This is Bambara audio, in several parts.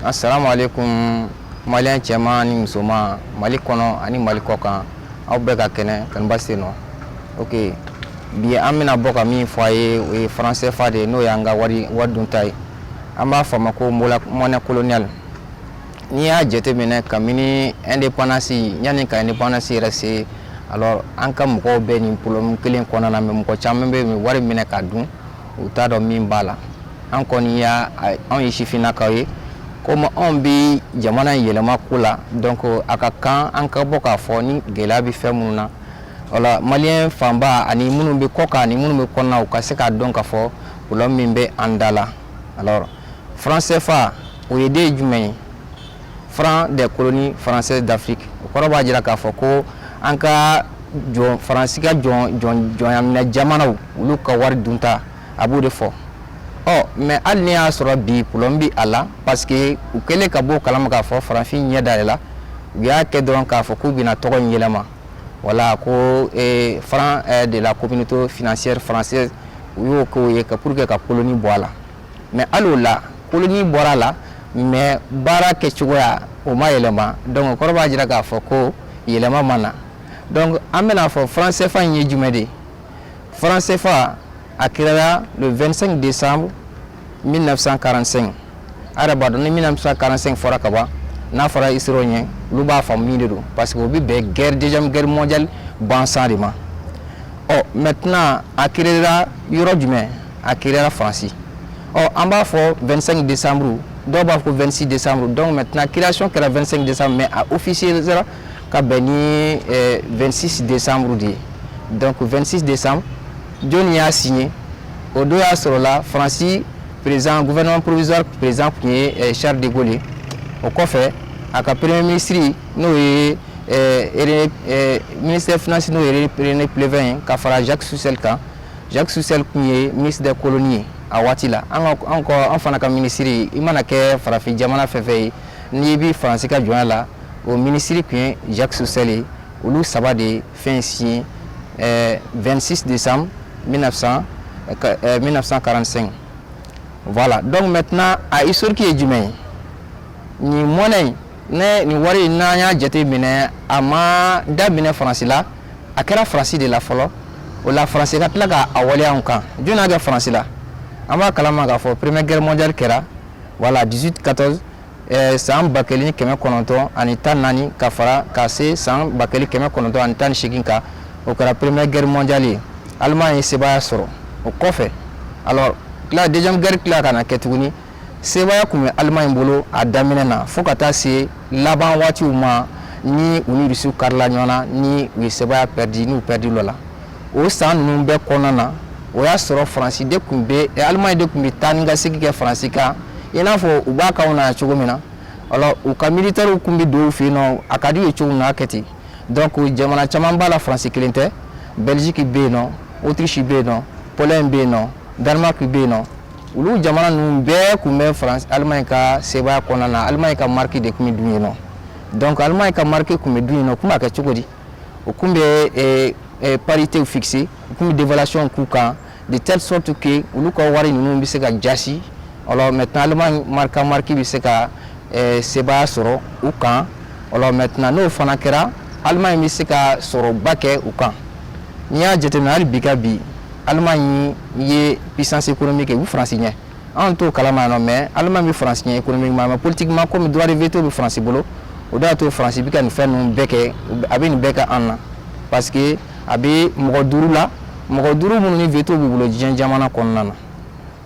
Assalamu alaikum malien cɛman ni musoman Mali kɔnɔ ani Mali kɔkan aw bɛɛ ka kɛnɛ kanuba se nɔ ok bi an bɛna bɔ ka min fɔ a ye o ye franc CFA de ye n'o y'an ka wari dunta ye an b'a fɔ a ma ko monnaie coloniale n'i y'a jateminɛ kabini indépendance yanni ka indépendance yɛrɛ se alors an ka mɔgɔw bɛ nin problème kelen kɔnɔna na mais mɔgɔ caman bɛ wari minɛ ka dun u t'a dɔn min b'a la an kɔni y'a anw ye sifinnakaw ye komi anw bɛ jamana in yɛlɛma ko la donc a ka kan an ka bɔ k'a fɔ ni gɛlɛya bɛ fɛn minnu na wala maliyɛn fanba ani minnu bɛ kɔ kan ani minnu bɛ kɔnɔna u ka se k'a dɔn k'a fɔ problème min bɛ an da la alors franc CFA o ye den jumɛn ye franc des colonies françaises d'Afrique o kɔrɔ b'a jira k'a fɔ ko an ka faransi ka jɔnyaminɛ jamanaw olu ka wari dunta a b'o de fɔ ɔ mais hali ni y'a sɔrɔ bi problème bɛ a la parce que u kɛlen ka bɔ o kalama k'a fɔ farafin ɲɛ dayɛlɛla u y'a kɛ dɔrɔn k'a fɔ k'u bɛna tɔgɔ in yɛlɛma voilà ko franc de la communauté financière française u y'o kɛ ye pour que ka colonie bɔ a la mɛ alio la kolonji bɔra a la mɛ baara kɛ cogoya o ma yɛlɛma dɔn kɔrɔ b'a jira k'a fɔ ko yɛlɛma ma na dɔn an bɛna'a fɔ faransɛfan in ye jumɛn de faransɛfa a kira le 2 de san 1945 araba dɔn ni min fisa kalansen fɔra ka ban n'a fɔra i sera ɲɛ olu b'a fɔ min de don parce que u bɛ bɛn gɛrɛjɛjamu gɛri mɔndiyali bansan de ma ɔ mɛ tɛna a kira yɔrɔ jumɛn a créera faransi ɔ an b'a fɔ 25 décembre dɔw b'a fɔ ko 26 décembre donc maintenant création kɛra 25 décembre mais a officialisera ka bɛn ni 26 euh, décembre de ye donc 26 décembre jɔni y'a signé o don y'a sɔrɔla faransi président gouvernement provisoire président tun ye euh, charles de gaulle ye o kɔfɛ a ka premier ministre n'o ye euh, ministère finance n'o ye rené pleven ye ka fara jacques soustelle kan jacques soustelle tun ye ministre des colonies ye a waati la an fana ka minisiri i mana kɛ farafin jamana fɛn fɛn ye n'i bɛ faransi ka jɔnya la o minisiri tun ye jacques soustelle ye olu saba de fɛn signé 26 décembre 1945. Voilà, donc maintenant, a historique ye jumɛn ye. Ni monnaie, ne nin wari in n'an y'a jateminɛ a ma daminɛ faransi la a kɛra faransi de la fɔlɔ o la faransi ka tila ka a waleya anw kan jɔni y'a kɛ faransi la an b'a kalama k'a fɔ première guerre mondiale kɛra voilà 1814 eh, san ba kelen kɛmɛ kɔnɔntɔn ani tan naani ka fara ka se san ba kelen kɛmɛ kɔnɔntɔn ani tan ni seegin kan o kɛra première guerre mondiale ye Allemagne ye sebaaya sɔrɔ o kɔfɛ alors la deuxième guerre tila ka na kɛ tuguni Sebaaya tun bɛ Allemagne bolo a daminɛ na fo ka taa se laban waatiw ma ni u ni Rusiw karila ɲɔgɔn na ni u ye sebaaya pɛridi n'u pɛridi lɔ la o san ninnu bɛɛ kɔnɔna na o y'a sɔrɔ Faransi de tun bɛ eh, Allemagne de tun bɛ taa ni ka segin kɛ Faransi kan i n'a fɔ u b'a k'anw na cogo min na alors u ka militaires tun bɛ don u fɛ yen nɔ a ka d'u ye cogo min na a kɛ ten donc jamana caman b'a la Faransi kelen tɛ Belgique bɛ yen nɔ Autriche bɛ yen nɔ Pologne bɛ yen nɔ Danemark bɛ yen nɔ olu jamana ninnu bɛɛ tun bɛ France Allemagne ka sebaaya kɔnɔna na Allemagne ka mark de tun bɛ dun yen nɔ donc Allemagne ka mark tun bɛ dun yen nɔ tun b'a kɛ cogo di u tun bɛ eh, eh, parité fixer u tun bɛ dévaluation k'u kan de telle sorte que olu ka wari ninnu bɛ se ka jasi alors maintenant Allemagne mark mark bɛ se ka eh, sebaaya sɔrɔ u kan maintenant n'o fana kɛra Allemagne bɛ se ka sɔrɔba kɛ u kan n'i y'a jateminɛ hali bi ka bi Allemagne ye puissance économique ye u faransi ɲɛ anw t'o kalama yan nɔ mais Allemagne bɛ faransi ɲɛ économiquement mais politiquement comme droit de veto bɛ faransi bolo o de y'a to faransi bɛ ka nin fɛn ninnu bɛɛ kɛ a bɛ nin bɛɛ kɛ an na parce que a bɛ mɔgɔ duuru la mɔgɔ duuru minnu ni veto b'u bolo diɲɛ jamana kɔnɔna na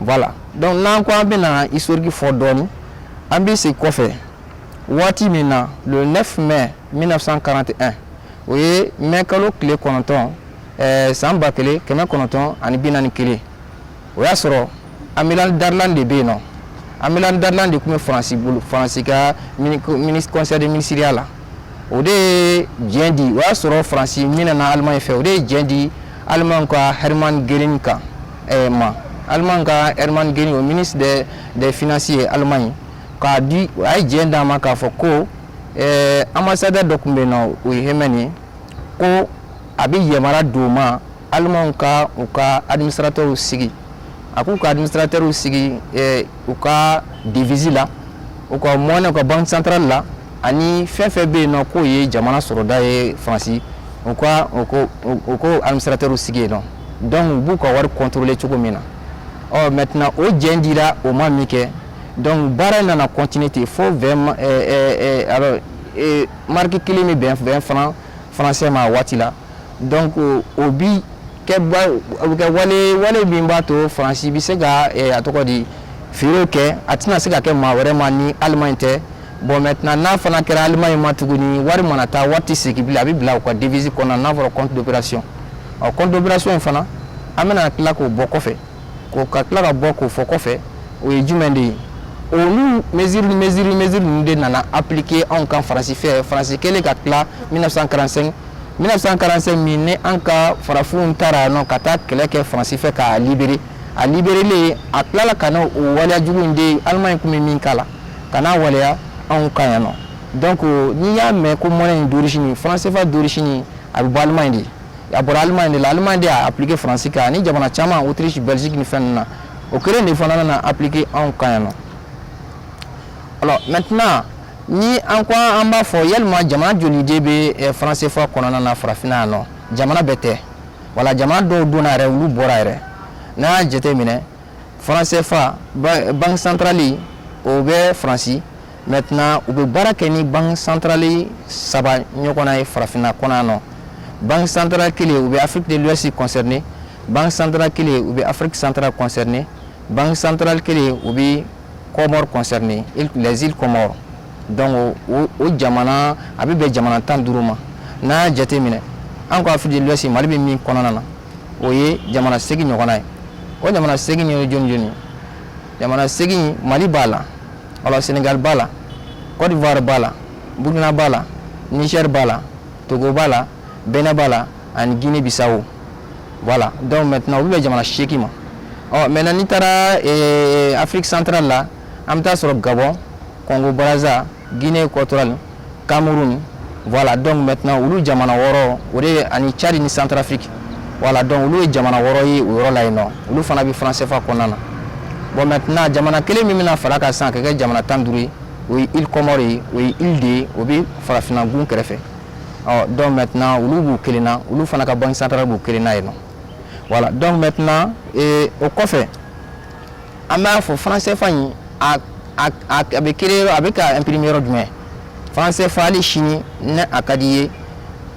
voilà donc n'an ko an bɛna historique fɔ dɔɔni an bɛ segin kɔfɛ waati min na le 9 mai 1941 o ye mai kalo tile kɔnɔntɔn eh, san ba kelen kɛmɛ kɔnɔntɔn ani bi naani kelen o y'a sɔrɔ Amiral Darlan de bɛ yen nɔ Amiral Darlan de tun bɛ faransi bolo faransi ka conseil de ministeriya la o de ye diɲɛ di o y'a sɔrɔ faransi minɛna Allemagne fɛ o de ye diɲɛ di Allemagne ka Hermann Göring kan eh, ma Allemagne ka Hermann Göring o ministre des finances ye Allemagne k'a di o a ye diɲɛ d'a ma k'a fɔ ko ɛɛ ambassadeur dɔ tun bɛ yen nɔ o ye Hemmen ye ko a bɛ yamaruya d'o ma alimanw ka u ka administrateurs sigi a k'u ka administrateurs sigi u ka devise la u ka monnaie ka banque centrale la ani fɛn fɛn bɛ yen nɔ k'o ye jamana sɔrɔda ye faransi u ka u ko administrateurs sigi yen nɔ donc u b'u ka wari contrôler cogo min na ɔ maintenant o diɲɛ dira o ma minkɛ donc baara in nana continuer ten fo mark kelen bɛ bɛn vingt francs français ma waati la donc o bi kɛwale min b'a to faransi bɛ se ka a tɔgɔ di feere kɛ a tɛna se ka kɛ maa wɛrɛ ma ni Allemagne tɛ bon maintenant n'a fana kɛra Allemagne ma tuguni wari mana taa wari tɛ segin bilen a bɛ bila u ka devise kɔnɔ n'a fɔra compte d'opération compte d'opération in fana an bɛna tila k'o bɔ kɔfɛ ko ka tila ka bɔ k'o fɔ kɔfɛ o ye jumɛn de ye olu mesure ninnu de nana appliquer anw kan faransi fɛ faransi kɛlen ka tila 1945 1945 min ni an ka farafinw taara yan nɔ ka taa kɛlɛ kɛ faransi fɛ k'a libere a liberelen a tilala ka na o waleya jugu in de alemaɲi tun bɛ min k'a la ka n'a waleya anw kan yan nɔ donc n'i y'a mɛn ko monnaie in d'origine franc CFA d'origine a bɛ bɔ alemaɲi de a bɔra Allemagne de la Allemagne de y'a appliquer France kan ani jamana caman Autriche Belgique ni fɛn ninnu na o kelen de fana nana appliquer anw kan yan nɔ alors maintenant ni an ko an b'a fɔ yalima jamana joli de bɛ eh, franc CFA kɔnɔna na farafinna yan nɔ jamana bɛɛ tɛ wala jamana dɔw donna yɛrɛ olu bɔra yɛrɛ n'an y'a jateminɛ franc CFA banque centrale o bɛ France maintenant u bɛ baara kɛ ni banque centrale saba ɲɔgɔnna ye farafinna kɔnɔ nɔ banque centrale kelen u bɛ Afrique de l'Ouest concerner banque centrale kelen u bɛ Afrique centrale concerner banque centrale kelen u bɛ Comores concerner les îles Comores donc o jamana a bɛ bɛn jamana tan duuru ma n'a jateminɛ an ka Afrique de l'Ouest mali bɛ min kɔnɔna na o ye jamana segin ɲɔgɔnna ye o jamana segin ye jɔni jamana segin mali b'a la alors senegali b'a la côte d'ivoire b'a la burkina b'a la niger b'a la togo b'a la benin b'a la ani guinée bissau voilà donc maintenant o bɛ bɛn jamana seegin ma ɔ maintenant n'i taara eh, afrique centrale la an bɛ taa sɔrɔ gabon congo brazza guinée équatoriale Cameroun voilà donc maintenant olu jamana wɔɔrɔ o de ani Tchad ni Centrafrique voilà donc olu ye jamana wɔɔrɔ ye o yɔrɔ la yen nɔ olu fana bɛ franc CFA kɔnɔna na bon maintenant jamana kelen min bɛna far'a kan sisan k'a kɛ jamana tan duuru ye o ye îles Comores ye o ye île de ye o bɛ farafinna gun kɛrɛfɛ ɔ donc maintenant olu b'u kelen na olu fana ka banque centrale b'u kelen na yen nɔ voilà donc maintenant ee, o kɔfɛ an b'a fɔ franc CFA in a bɛ créer yɔrɔ a bɛ ka imprimer yɔrɔ jumɛn franc CFA hali sini ni a ka di i ye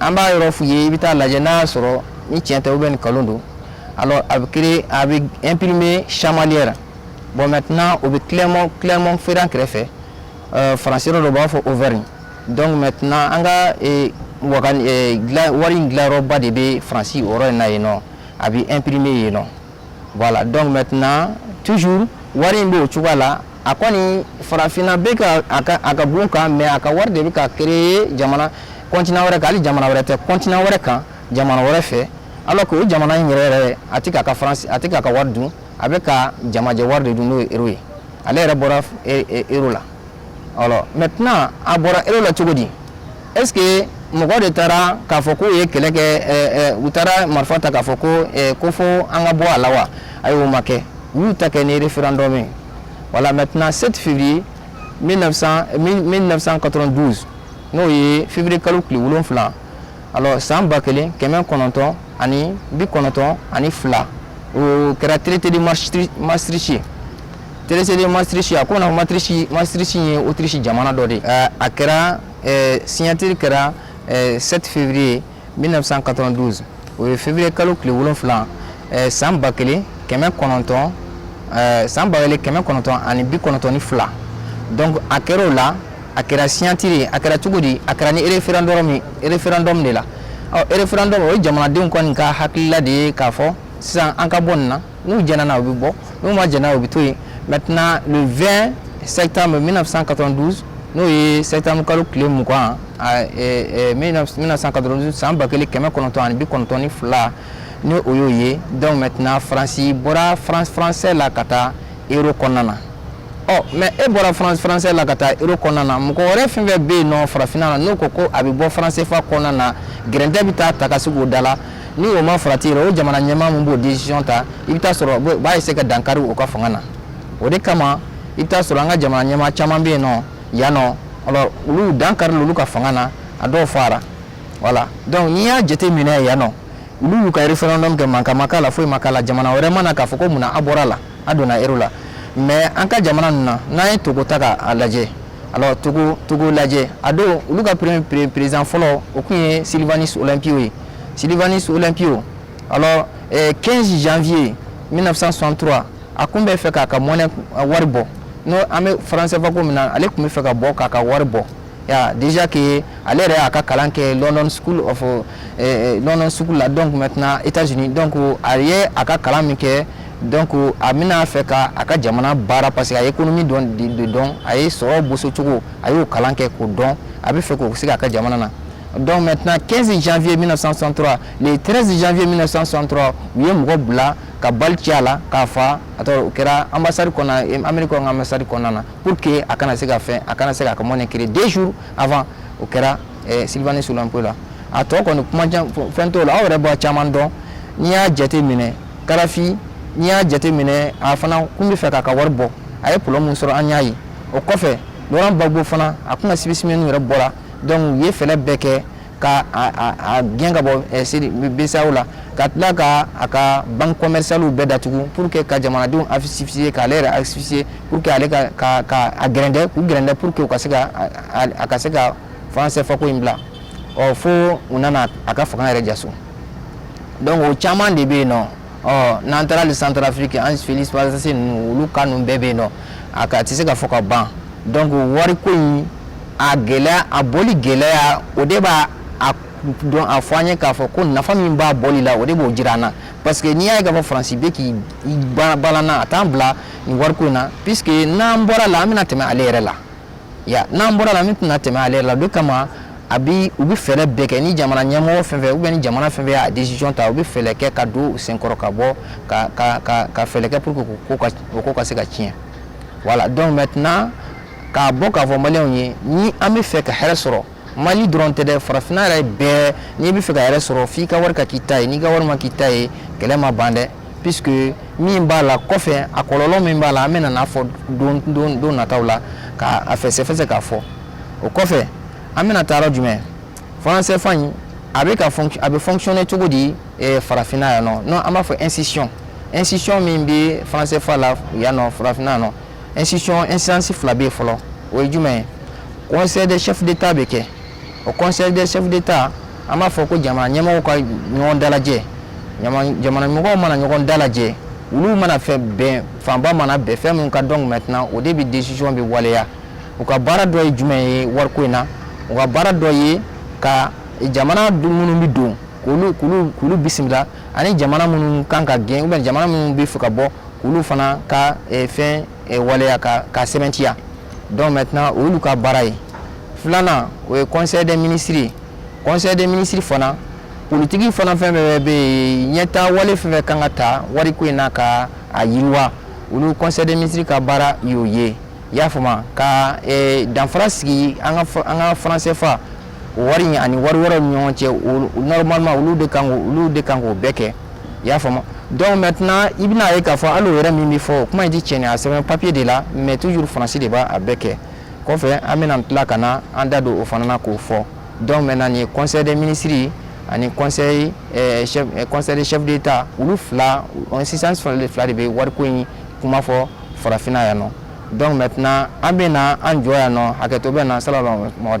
an b'a yɔrɔ f'u ye i bɛ taa a lajɛ n'a y'a sɔrɔ ni tiɲɛ tɛ ou bien ni nkalon don alors a bɛ créer a bɛ imprimer chamalières bon maintenant o bɛ clermont clermont ferrand kɛrɛfɛ euh, faransi yɔrɔ dɔ u b'a fɔ auvergne donc maintenant an ka eh, wagan eh, wari in dilanyɔrɔba de bɛ faransi o yɔrɔ in na yen nɔ a bɛ imprimer yen nɔ Voilà donc maintenant toujours wari in bɔ cogoya la a kɔni farafinna bɛ ka a ka gun kan mais a ka wari de bɛ ka créer jamana continent wɛrɛ kan hali jamana wɛrɛ tɛ continent wɛrɛ kan jamana wɛrɛ fɛ alors que o jamana in yɛrɛ yɛrɛ a tɛ k'a ka faransi a tɛ k'a ka wari dun a bɛ ka jamajɛ wari de dun n'o ye euro ye ale yɛrɛ bɔra euro la maintenant a bɔra euro la cogo di est-ce que mɔgɔ de taara k'a fɔ k'u ye kɛlɛ kɛ u taara marifa ta k'a fɔ ko ko fo an ka bɔ a la wa ayi o ma kɛ u y'u ta kɛ ni référendum voilà maintenant 7 février 1992 n'o ye février kalo tile wolonwula alors san ba kelen kɛmɛ kɔnɔntɔn ani bi kɔnɔntɔn ani fila o kɛra traité de maastricht ye traité de maastricht a ko na maastricht maastricht ye autriche jamana dɔ de ye a kɛra signature kɛra 7 février 1992 o ye février kalo tile wolon wolonwula san ba kelen kɛmɛ kɔnɔntɔn san ba kelen kɛmɛ kɔnɔntɔn ani bi kɔnɔntɔn ni fila donc a kɛra o la a kɛra signature a kɛra cogo di a kɛra ni référendum référendum de la ɔ référendum o ye jamanadenw kɔni ka hakilila de ye k'a fɔ sisan an ka bɔ nin na n'u jɛnna na u bɛ bɔ n'u ma jɛn na u bɛ to yen maintenant le 20 septembre 1992 n'o ye septembre kalo tile mugan 1992 san ba kelen kɛmɛ kɔnɔntɔn ani bi kɔnɔntɔn ni fila ni o y'o ye donc maintenant faransi bɔra franc français la ka taa euro kɔnɔna na ɔ mais e bɔra franc français la ka taa euro kɔnɔna na mɔgɔ wɛrɛ fɛn fɛn bɛ yen nɔ farafinna na n'o ko ko a bɛ bɔ franc CFA kɔnɔna na gɛrɛntɛ bɛ taa ta ka sigi o da la ni o ma farati o jamana ɲɛmaa min b'o decision ta i bɛ taa sɔrɔ u b'a essayer ka dankari u ka fanga na o de kama i bɛ taa sɔrɔ an ka jamana ɲɛmaa caman bɛ yen nɔ yan nɔ alors olu dankaril'olu ka fanga na a dɔw fara voilà donc n'i y'a jate minɛ yan nɔ olu y'u ka referendum kɛ mankan ma k'a la foyi ma k'a la jamana wɛrɛ ma na k'a fɔ ko munna a bɔra la a donna euro la mais an ka jamana ninnu na n'an ye togo ta k'a lajɛ alors togo togo lajɛ a don olu ka président fɔlɔ o kun ye sylvanus olympio ye Sylvanus Olympio alors 15 eh, janvier 1963 a kun bɛ fɛ k'a ka monnaie eh, wari bɔ n'o an bɛ franc CFA ko min na ale kun bɛ fɛ ka bɔ k'a ka wari bɔ ya déjà que ale yɛrɛ y'a ka kalan kɛ London School of eh, eh, London School la donc maintenant États-Unis donc a ye a ka kalan min kɛ donc a bɛna fɛ ka a ka jamana baara parce que a ye économie dɔn de dɔn a ye sɔrɔ boso cogo a y'o kalan kɛ k'o dɔn a bɛ fɛ k'o se k'a ka jamana na Donc maintenant 15 janvier 1963 le 13 janvier 1963 u ye mɔgɔ bila ka balle ci a la k'a faa Togo o kɛra ambassade kɔnɔ Ameriki ka ambassade kɔnɔna na pour que a kana se ka fɛn a kana se k'a ka monnaie créer deux jours avant o kɛra eh, Sylvanus Olympio la a tɔ kɔni kuma fɛn t'o la aw yɛrɛ b'a caman dɔn n'i y'a jate minɛ Kadhafi n'i y'a jate minɛ a fana kun bɛ fɛ k'a ka wari bɔ a ye problème min sɔrɔ an y'a ye o kɔfɛ Laurent Gbagbo fana a kun ka spécimenw yɛrɛ bɔra donc u ye fɛlɛ bɛɛ kɛ ka a gɛn ka bɔ BCEAO la ka tila ka a ka banque commercialew bɛɛ datugu pour que ka jamanadenw asphyxier k'ale yɛrɛ asphyxier pour que ale gɛrɛntɛ k'u gɛrɛntɛ pour que ka se a ka se ka franc CFA ko in bila ɔ fo u nana a ka fanga yɛrɛ jaso donc o caman de bɛ yen nɔ ɔ n'an taara le Centrafrique Ange-Félix Patassé ninnu olu ka ninnu bɛɛ bɛ yen nɔ a ka tɛ se ka fɔ ka ban donc wariko in a gɛlɛya a bɔli gɛlɛya o de b'a a dɔn a fɔ an ye k'a fɔ ko nafa min b'a bɔli la o de b'o jira an na parce que n'i y'a ye k'a fɔ faransi bɛ k'i balanna a t'an bila nin wariko in na puisque n'an bɔra la an bɛna tɛmɛ ale yɛrɛ la ya n'an bɔra la min tɛna tɛmɛ ale la de kama a bi u bɛ fɛɛrɛ bɛɛ kɛ ni jamana ɲɛmɔgɔ fɛn fɛn ou bien ni jamana fɛn fɛn y'a decision ta u bɛ fɛɛrɛ kɛ ka don u senkɔrɔ ka bɔ ka ka ka ka fɛɛrɛ kɛ pour que ko ka o ko ka se ka tiɲɛ voilà donc maintenant k'a bɔ k'a fɔ maliyɛnw ye ni an bɛ fɛ ka hɛrɛ sɔrɔ Mali dɔrɔn tɛ dɛ farafinna yɛrɛ bɛɛ n'i bɛ fɛ ka hɛrɛ sɔrɔ f'i ka wari ka k'i ta ye n'i ka wari ma k'i ta ye kɛlɛ ma ban dɛ puisque min b'a la kɔfɛ a kɔlɔlɔ min b'a la an bɛna n'a fɔ don don don nataw la ka a fɛsɛfɛsɛ k'a fɔ o kɔfɛ an bɛna taa yɔrɔ jumɛn franc CFA in a bɛ ka a bɛ fonctionner cogo di eh, farafinna yan nɔ non an b'a fɔ institution institution min bɛ franc CFA la yan nɔ farafinna yan nɔ institution instance fila bɛ yen fɔlɔ o ye jumɛn ye conseil des chefs d'état bɛ kɛ o conseil des chefs d'état an b'a fɔ ko jamana ɲɛmɔgɔw ka ɲɔgɔn dalajɛ jamana ɲɛmɔgɔw mana ɲɔgɔn dalajɛ olu mana fɛn bɛn fanba mana bɛn fɛn min kan donc maintenant o de bɛ décision bɛ waleya u ka baara dɔ ye jumɛn ye wariko in na u ka baara dɔ ye ka jamana minnu bɛ don k'olu k'olu k'olu bisimila ani jamana minnu kan ka gɛn ou bien jamana minnu bɛ fɛ ka bɔ k'olu fana ka eh, fɛn eh, waleya ka ka sɛbɛntiya donc maintenant o y'olu ka baara ye filanan o ye conseil des ministres ye conseil des ministres fana politiki fana fɛn fɛn bɛ yen ɲɛtaa wale fɛn fɛn kan ka ta wariko in na ka a yiriwa olu conseil des ministres ka baara y'o ye i y'a faamuya ka eh, danfara sigi an ka fa- an ka franc CFA wari in ani wari wɛrɛw ni ɲɔgɔn cɛ o- o- normalement olu de kan k'o- olu de kan k'o bɛɛ kɛ i y'a faamu donc maintenant i bɛna ye k'a fɔ hali o yɛrɛ min bɛ fɔ o kuma in tɛ tiɲɛ ye, a sɛbɛn papier de la mais toujours faransi de b'a a bɛɛ kɛ kɔfɛ an bɛna tila ka na an da don o fana na k'o fɔ donc maintenant nin ye conseil des ministres ye ani conseil eh, chef eh, conseil des chefs d'état olu fila o instance fila de fila de bɛ wariko in kuma fɔ farafinna yan nɔ donc maintenant an bɛna an jɔ yan nɔ hakɛto bɛ na salamu alaikum